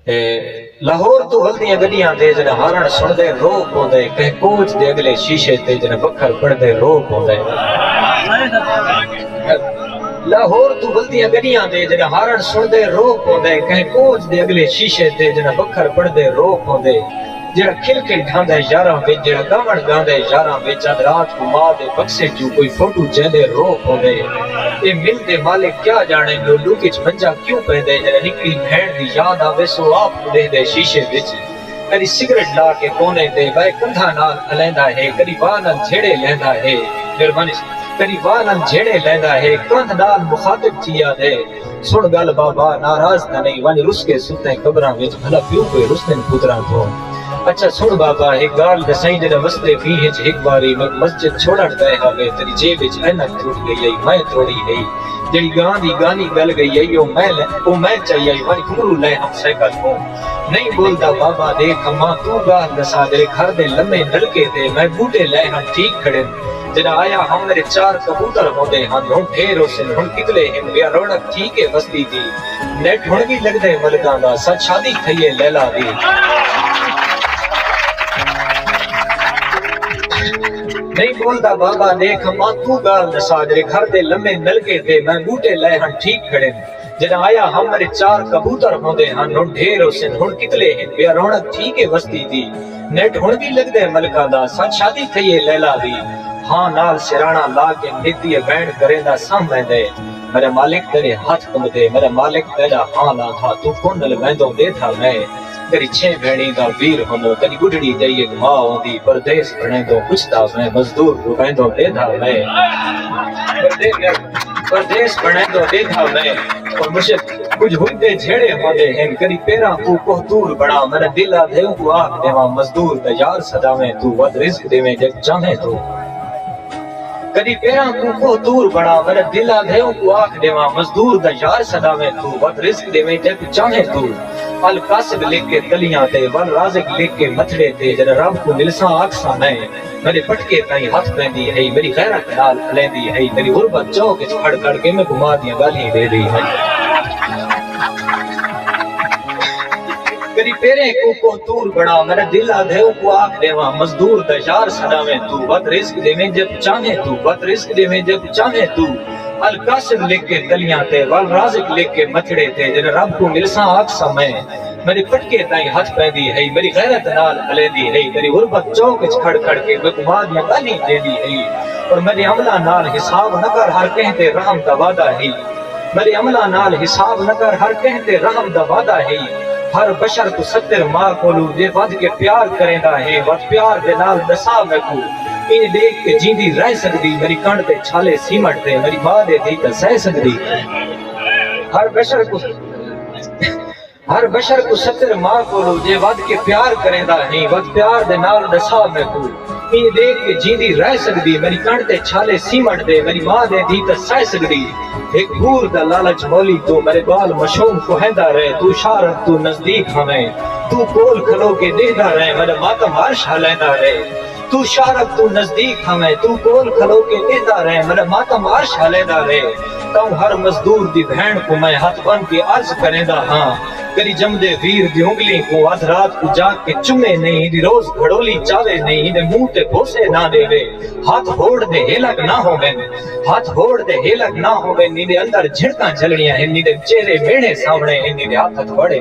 اے لاہور توں ہلدیاں گڈیاں دے جنا ہارن سن دے رو پوندے کہیں کوچ دے اگلے شیشے تے جنا بکھر پڑ دے رو پوندے لاہور توں ہلدیاں گڈیاں دے جنا ہارن سن دے رو پوندے کہیں کوچ دے اگلے شیشے تے جنا بکھر پڑ دے رو پوندے جیڑھا کرکٹ ڈھاندا ہے یاراں وچ جیڑھا گاون گاندا ہے یاراں وچ اد رات کوں ماء دے بکسے چوں کوئی فوٹو چیندے رو پوندے اے مل دے مالک کیا جانڑن جو ڈوک اچ منجا کیوں پیندے جدے نکڑی بھینڑ دی یاد آوے سو آپ کوں ڈیہندے شیشے وچ کڈی سگریٹ لا کے کونے تے بئے کندھاں نال الیندا ہے کڈی واہ نال جھیڑے لیندا ہے مہربانی سر کڈی واہ نال جھیڑے لیندا ہے کندھ نال مخاطب تھی آدھے۔ سݨ ڳالھ بابا ناراض تاں نئیں ونڄ رس کے ستیں قبراں وچ بھلا پیو کوئے رستن پتراں توں اچھا سݨ بابا ہک ڳالھ ݙسئیں جݙاں وسدے ݙینہہ وچ ہک واری میکوں مسجد چھوڑݨ پئے ہاوے تیݙی جیب وچ عینک ترٹ ڳئی ہئی میں توڑی ہئی جیڑھی ڳاں دی ڳانی ڳل ڳئی ہئی او میں او میں چائی ہئی ونڄ گھنگھرو لئے ہم سائیکل کوں نئیں ٻولدا بابا ݙیکھ اماں توں ڳالھ ݙساں جیڑھے گھر دے لمے نلکے تے میں ٻوٹے لئے ہم ٹھیک کھڑن جݙاں آیا ہم میݙے چار کبوتر ہوندے ہن ہݨ ڈھیر ہوسن ہݨ کتلے ہن ٻیا رونق تھی کے وسدی دی نیٹ ہݨ وی لڳدے ملکاں دا سچ شادی تھئیے لیلا دی نئیں ٻولدا بابا ݙیکھ اماں توں ڳالھ ݙسا جیڑھے گھر دے لمے نلکے تے میں ٻوٹے لائے ہن ٹھیک کھڑن جݙاں آیا ہم میݙے چار کبوتر ہوندے ہن ہݨ ڈھیر ہوسن ہݨ کتلے ہن ٻیا رونق تھی کے وسدی دی نیٹ ہن وی لگدے ملکاں دا سچ شادی تھئی ہے لیلا دی ہاں نال سرانا لا کے نت دی اے وین گریندا ساں میندے میڈا مالک تیڈے ہتھ کنبدے میڈا مالک تیڈا ہاں لا تھا توں کون نل میندوں دے تھا میں تیڈی چھے بھینڑی دا ویر ہنوں تیڈی بڈھڑی دئی اک ماء ہوندی پردیس بھنڑیندوں پچھدا میں مزدور رویندوں دے تھا میں پردیس بھنڑیندوں دے تھا میں اور مجھے کجھ ہوندے جھیڑے ہوندے ہن کدی پیراں کوں کوہ طور بنڑا میڈا دل آدھے اونکوں آکھ ڈیواں مزدور تے یار سداویں توں ودھ رزق ڈیویں جے چاہیں توں کدی پیراں کوں کوہ طور بنڑا میڈا دل آدھے اونکوں آکھ ڈیواں مزدور تے یار سداویں توں ودھ رزق ڈیویں جے چاہیں توں القاصد لکھ کے تلیاں تے والرازق لکھ کے متھڑے تے جڈاں رب کوں ملساں آکھساں میں میݙے پٹکے تائیں ہتھ پیندی ہئی، میݙی غیرت نال الیندی ہئی، میݙی غربت چوک اچ کھڑ کھڑ کے میکوں ماء دیاں ڳالھیں ݙے ݙئی ہئی۔ میݙی پیریں کوں کوہ طور بݨا، میݙا دل آدھے اونکوں آکھ ݙیواں، مزدور دا یار سݙاویں توں، ودھ رزق ݙیویں جیکوں چاہیں توں، ودھ رزق ݙیویں جیکوں چاہیں توں، القاسم لکھ کے تلیاں تے، والرازق لکھ کے متھڑے تے، جݙاں رب کوں ملساں آکھساں میں، میݙے پٹکے تائیں ہتھ پیندی ہئی، میݙی غیرت نال ہلیندی ہئی، میݙی غربت چوک اچ کھڑ کھڑ کے میکوں ماء دیاں گالھیں ݙیندی ہئی۔ پر میݙے عملاں نال حساب نہ کر ہر کہیں تے رحم دا وعدہ ہئی۔ میݙے عملاں نال حساب نہ کر ہر کہیں تے رحم دا وعدہ ہئی۔ ہر بشر کوں ستر ماء کولوں جے ودھ کے پیار کریندا ہے ودھ پیار دے نال ݙسا میکوں ایں ݙیکھ کے جیندی رہ سڳدی میݙی کنڈ تے چھالے سیمنٹ دے میݙی ماء دے دھی تاں سہہ سڳدی ہر بشر کوں ہر بشر کوں ستر ماء کولو جے ودھ کے پیار کریندا ہیں ودھ پیار دے نال ڈسا میکوں ایں دیکھ کے جیندی رہ سکدی میری کن تے چھالے سیمٹ دے میری ماں دے دی تاں سہ سکدی ہک حور دا لالچ مولی تو میرے بال مشوم کوہیندا رہ تو شارن توں نزدیک ہویں تو کول کھلو کے ڈیہدا رہ میڈا ماتم عرش ہلیندا رہ۔ توں شارق توں نزدیک تھاویں توں کول کھلو کے ڈیہدا رہ مڈا ماتم عرش ہلیدا رہ توں ہر مزدور دی بھین کوں میں ہتھ بن کے عرض کریندا ہاں کری جمدے ویر دی انگلیں کوں ادھ رات کوں جاگ کے چمے نئیں ہیندی روز گھڑولی چاوے نئیں ہیندے منہ تے بوسے نہ ڈیوے ہتھ ہوڑ دے ہیلک نہ ہوون ہتھ ہوڑ دے ہیلک نہ ہوون نیندے اندر جھڑکاں جھلنیاں ہن نیندے چہرے میڑھے ساونے ہن نیندے ہتھ ہتھ بڑے